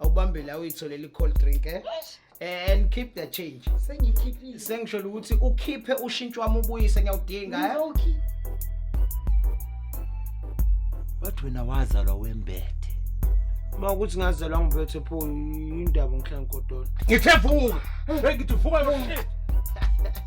awubambe la uyitholele i-cold drink eh? Eh, and keep the change sengiyikhiphile sengisholo ukuthi ukhiphe ushintsho wami ubuyise ngiyawudinga eh? Ngizowukhipha. bathi wena wazalwa wembethe uma ukuthi ngazalwa ngibethe pho yindaba ngihlangikodola ngithe vuka hey ngithi vuka yo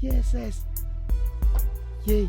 Yeses. Yay.